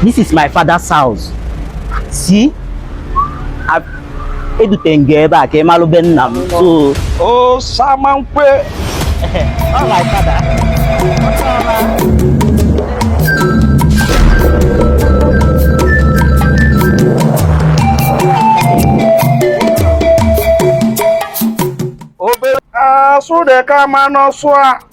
This is my father's house. See? Edute m gị ebe a ka ị malụ be nna m. So. Oh, Samankwe. All right, father. Obere asụ dị ka mmanụ sụa.